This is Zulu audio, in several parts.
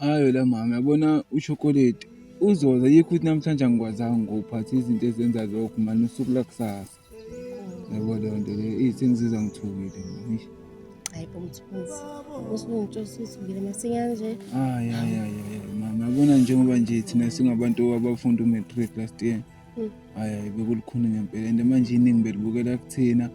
Ayi wena mama yabona ushokoledi uzoza yikho ukuthi namhlanje angikwazanga ngokuphatha izinto ezenza lokho mani usuku lakusasa yabo leyo nto leyo eyi sengizizwa ngithukile mani hayi bo mthunzi usungitshosithukile masinyane nje ayi ayi ayi ayi mama yabona njengoba nje thina singabantu abafunda umatric last year Hmm. Hayi hayi bekulukhuni ngempela and manje iningi belibukela kuthina.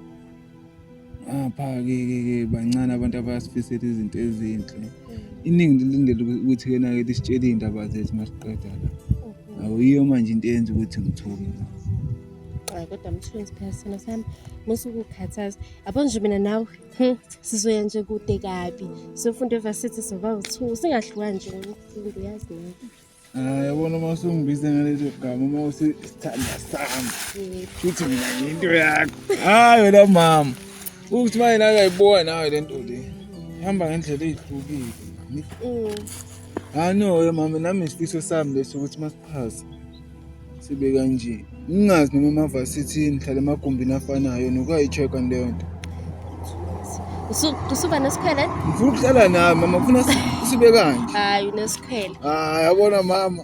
Apha ke ke ke bancane abantu abasifisela izinto ezinhle. Hmm. Iningi lilindele ukuthi kena ke lisitshele izindaba zethu masiqeda la. Hmm. Awuyiyo manje into eyenza ukuthi ngithuke la. Hayi kodwa mthunzi phela sona sami musukukhathaza. Yabo nje mina nawe hmm, sizoya nje kude kabi. Sofunda evarsity soba uthu singahlukani nje ngomfundo uyazi nawe. yabona uma usungibize ngalezo gama uma usisithanda sami futhi mina ngiyinto yakho hayi wena mama ukuthi uma yena akayibowa nawe le nto le ihamba ngendlela eyihlukile mm. hanoye mama nami isifiso sami leso ukuthi masiphase sibe kanje ngingazi noma amavasithi ngihlala emagumbini afanayo nokuyayi-check-a leyo nto usuba nesikhwele ngifuna ukuhlala nawe mama ngifuna sibe kanje hayi unesikhwele hayi yabona mama